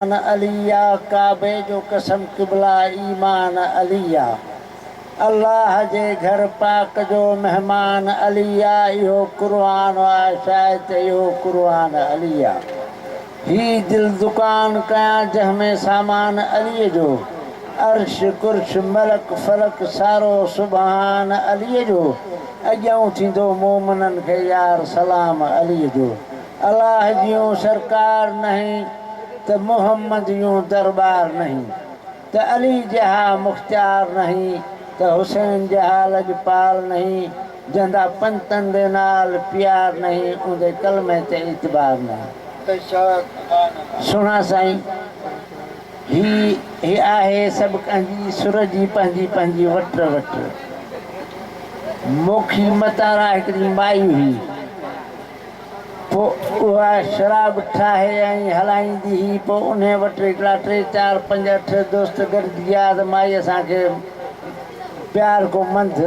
ايمان علي آ ڪعبي جو قسم قبلا ايمان علي آ الله جي گهر پاڪ جو مهمان علي آ اهو قرآن آ شايد ته اهو قرآن علي آ هي دل دڪان ڪيان جنهن ۾ سامان علي جو عرش قرش ملڪ فلڪ سارو سبحان علي جو اڄئون ٿيندو مومنن کي يار سلام علي جو. الله جيون سرڪار نهين ته محمد يون درٻار نهين ته علي جها مختيار نهين ته حسين جها لڄپال نهين جهندا پنتن دي نال پيار نهين اوندي ڪلمي تي اعتبار نهين. سهڻا سائين هي هي آهي سڀ ڪنهن جي سر جي پنهنجي پنهنجي وٽر وٽر موکي متارا هڪڙي مائي هئي. پوء اها شراب ٺاهي ۽ هلائيندي هئي. پوء انهيء وٽ هڪڙا ٽي چار پنج اٺ دوست گڏجي آيا ته مائي اسان کي پيار ڪو منٿ.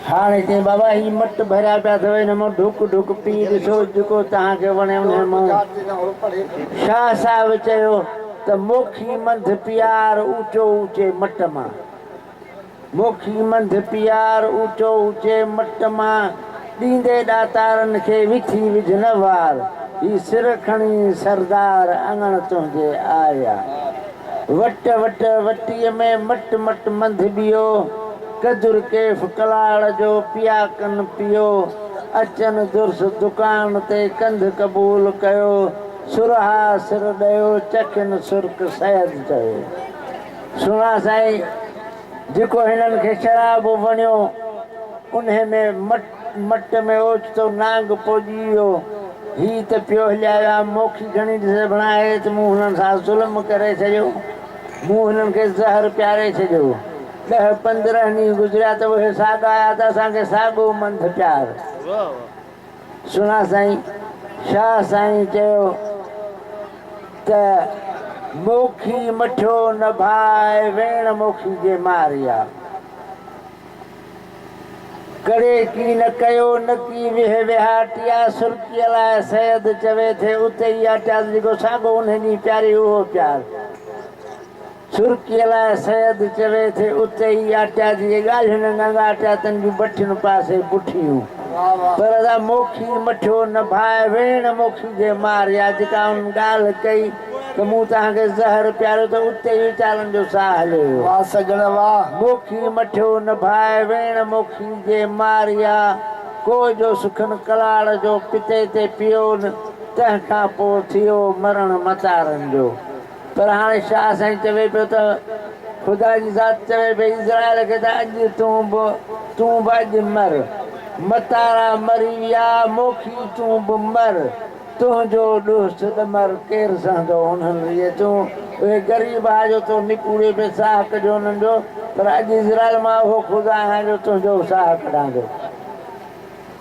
هاڻي چئين، بابا هي مٽ ڀريا پيا اٿو، انهن مان ڍڪ ڍڪ پي ڏسو، جيڪو توهان کي وڻي انهيء مان. شاهه صاحب چيو ته موکي منٿ پيار اوچو اوچي مٽ مان. موکي منجھ پيار اوچو اوچي مٽ مان، ڏيندي ڏاتارن کي وٿي وجھ نه وار، هي سر کڻي سردار اڱڻ تنهنجي آيا. وٽ وٽ وٽيء ۾ مٽ مٽ منجھ ٻيو، ڪجر ڪيف ڪلاڙ جو پياڪن پيو، اچن درس دڪان تي ڪنڌ قبول ڪيو، سرها سر ڏيو چکين سرڪ سيد چوي. سهڻا سائين جيڪو هنن کي شراب وڻيو انهي ۾ مٽ مٽ ۾ اوچتو نانگ پوڄي ويو هي ته پيو هليا ويا موکي گهڻي ڏسي بڻائي ته مون هنن سان ظلم ڪري ڇڏيو مون هنن کي زهر پياري ڇڏيو ڏهه پندرهن ڏينهن گذريا ته اهي ساڳا آيا ته اسان کي ساڳو منڌ پيار سھڻا سائين شاھ سائين چيو ته موکي مٺيو نه ڀاء ويڻ موکي جي ماري آ ڪڙي ڪي نه ڪيو نه ڪي ويھ ويھاٽي آ سرڪي لاء سيد چوي ٿي اتي ئي آ چاس جيڪو ساڳو انھي ڏينھن پياري اھو پيار سرڪي لاء سيد چوي ٿي اتي ئي آٽيا جي ڳالهين ڱنگ آٽيا تن جون بٺين پاسي بٺيون پر سا موکي مٺيو نه ڀاء ويڻ موکي جي مار يا جيڪا انهن ڳالهه ڪئي ته مون توهان کي زهر پياريو ته اتي ئي ويچارن جو ساهه هلي ويو واھ سڄڻ واھ. موکي مٺيو نه ڀاء ويڻ موکي جي مار يا ڪوء جو سکن ڪلاڙ جو پتي تي پيئون تنهن کان پوء ٿيو مرڻ متارن جو. پر هاڻي شاهه سائين چوي پيو ته خدا جي ذات چوي پئي اسرائيل کي ته اڄ تون به تون به اڄ مر. متارا مري ويا موکي تون به مر. تنهنجو ڏوهه سڏ مر ڪير سهندو انهن ريء تون اهي غريب آ جو تو نپوري پئي ساهه ڪڍيو انهن جو پر اڄ اسرائيل مان اهو خدا آهيان جو تنهنجو ساهه ڪڍان ٿو.